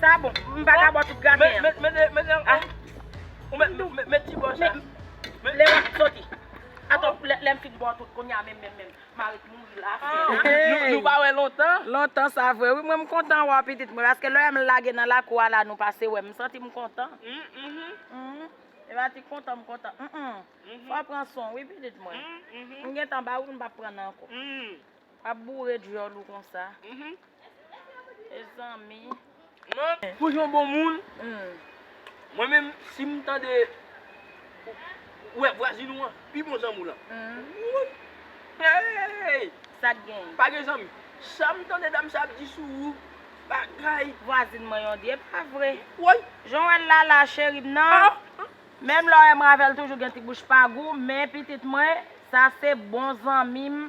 Sa bon, m pa ka bwè tout graten an. Men, men, men, men, men, ou mèt tou, mèt ti bò sa. Men, lè wap soti. Atò, lè m fin bwè tout kounye a menm, menm, menm, m a ret mouri la fè. Hey! Nou pa wè lontan? Lontan sa vre wi, mwen m kontan wè w pitit mwen, paske lè m lage nan lakou a la nou pase wè m, m santi m kontan. Humm, e pa ti kontan m kontan humm. Fò w pran son w wi pitit mwen. M gentan ba w wi m pap pran nan ankò. Wap boure dyòl ou konsa mezanmi. Nan bouch yon bon moun mwen menm sim tande ou wè vwazin ou an pi bon zanmi w lan wouyy eeyy sak gen pa gen zanmi sam tande dam sa ap di sou ou bagay vwazin mwen yon di epa vre woy jan w wèl la la cherim nan menm lè w wèm avèl toujou gen ti bouch pa gou men pitit mwen sa se bon zanmi m.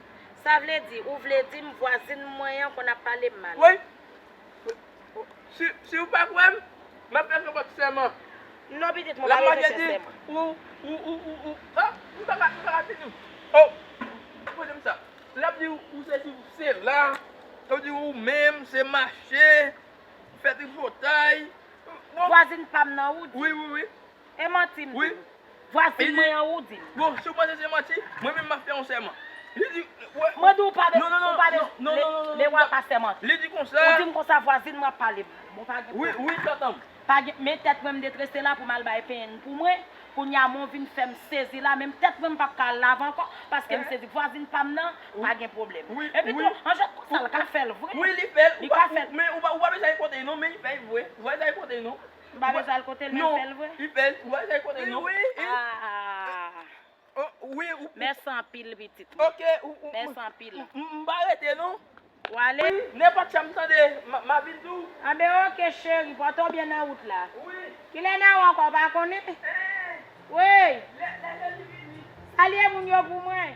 Sa vle di, ou vle di m vwazin m mwen an konn ap pale m mal? Woy! Si, si ou pa kwè m, m ap fè kanpòt sèman. Non pitit, mwen pa bezwen fè sèman. Ou, ou, ou, ou, ou, oh! M pa ka, m pa ka di nou. Oh! Poze m sa. L ap di ou sesi ou sela. L ap di ou ou menm se mache, fè tripotay. Vwazin pa m nan ou di? Wi, wi, wi. E manti m di. Vwasin mwen an ou di. Bon si ou panse se manti, mwen menm map fè yon sèman. Li di Mwen di ou pa de ou pa de Le wa pa sèman. Li di konsa. Ou di m konsa vwazin mwen ap pale m. Bon pa gen pwoblèm. Wi tantan m. Pa gen men tèt mwen m detrese la pou m al bay peny pou mwen. Kounye a men w vin fè m sezi la menm tèt mwen m pap ka al lave ankò paske m sezi vwazin pa m nan pa gen pwoblèm. Epitou an jwèt konsa l ka fè l vre. Wi li fè l. Li ka fè l. Men ou pa bezwen al pote l non men li fè l vre. Ou pa bezwen al pote l non. M pa bezwen al kotel menm fèl vre. Non, li fèl tou a jay konnen non. Wi wi. Aah. Wi ou. Mèsi anpil pitit mwen. Ok ou ou. Mèsi anpil. M pa rete non. W ale. Wi, nenpòt chan m tande m ap vin tou. Anben ok cheri, pòte w byen nan wout la. Wi. Kilè nan ou ankò ou pa konnen? Eeh. Woy. Lè lè Jezi vini. Salye moun yo pou mwen.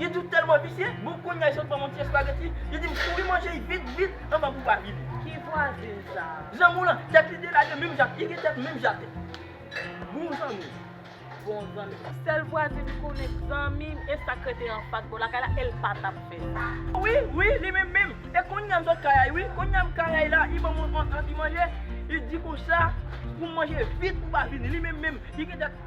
Li di w tèlman visye, bon kounya jel banm yon ti espageti, li di m kouri manje yi vit vit anvan pou pa vini. Ki vwazin sa? Zanmi w lan, tèt li delage menm jan ak li gen tèt menm jan ak bon zanmi w. Bon zanmi. Sèl vwazin m konnen k zanmi m e sak rete anfas bò lakay la e l pa tap fè sa. Wi, wi, li menm menm. E kounya m sot kay wi, kounya m kay la, li banm yon ti manje, li di konsa pou m manje vit pou pa vini, li menm menm, li gen tèt.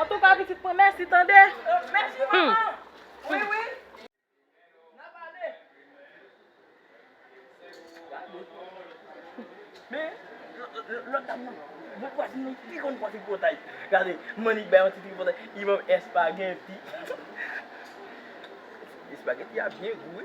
Antouka pitit mwen mèsi tande. Mèsi manman. Wi wi. Nan pale. Men lòt dam nan bon vwazin li pi konn fò tripotay. Gade Mannik bay yon ti tripotay. Li banm espageti. Espageti a byen gou wi.